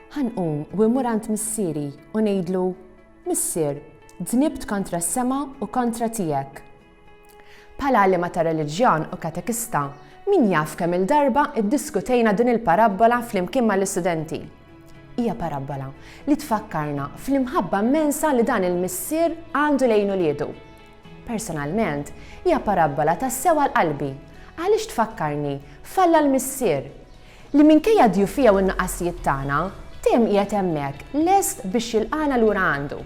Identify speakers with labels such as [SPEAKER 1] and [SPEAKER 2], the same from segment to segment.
[SPEAKER 1] Ħanqum u imur għand missieri u ngħidlu, Missier, dnibt kontra s-sema u kontra tiegħek. Pala għalima ta' reliġjon u katekista, min jaf kemm il-darba iddiskutejna din il-parabbola flimkien mal-istudenti. Hija parabbola li tfakkarna fl-imħabba mensa li dan il-missier għandu lejn uliedu. Personalment, hija parabbola tassew għal qalbi, għaliex tfakkarni f'Alla l-Missier, li minkejja d-djufija u n-nuqqasijiet tagħna, dejjem qiegħed hemmhekk lest biex jilqagħna lura għandu.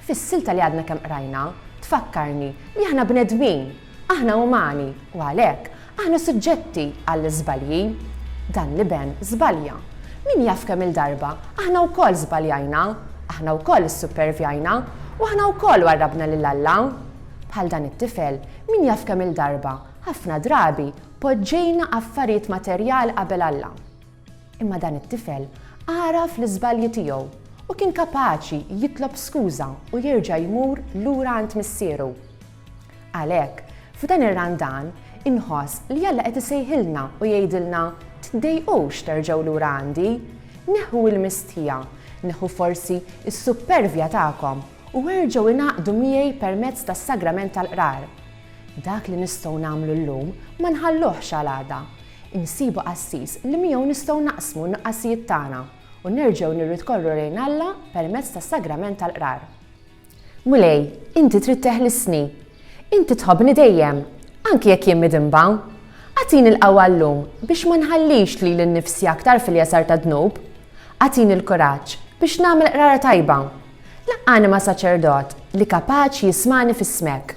[SPEAKER 1] Fis-silta li għadna kemm qrajna, tfakkarni li aħna bnedmin, aħna umani, u għalhekk, Aħna suġġetti għall-iżbalji. Dan l-iben żbalja. Min jaf kemm-il darba, aħna wkoll żbaljajna, aħna wkoll issuppervjajna, u aħna wkoll warrabna lil Alla. Bħal dan it-tifel, min jaf kemm-il darba, ħafna drabi, poġġejna affarijiet materjali qabel Alla. Imma dan it-tifel għaraf l-iżbalji tiegħu u kien kapaċi jitlob skuża u jerġa' jmur lura għand Missieru. Għalhekk, f'dan ir-Randan, inħoss li Alla qed isejħilna u jgħidilna, Tiddejqux terġgħu lura għandi. Neħħu l-mistħija, neħħu forsi s-suppervja tagħkom u erġgħu ingħaqdu miegħi permezz tas-Sagrament tal-Qrar. Dak li nistgħu nagħmlu llum ma nħalluhx għal għada. Insibu qassis li miegħu nistgħu naqsmu n-nuqqasijiet tagħna u nerġgħu nirritkorru lejn Alla permezz tas-Sagrament tal-Qrar. Mulej, inti trid teħlisni. Inti tħobbni dejjem, anki jekk jien midinba. Agħtini l-qawwa llum biex ma nħallix lili nnifsi aktar fil-jasar tad-dnub. Agħtini l-kuraġġ biex nagħmel qrara tajba. Laqqani ma' saċerdot li kapaċi jismagħni f'ismek.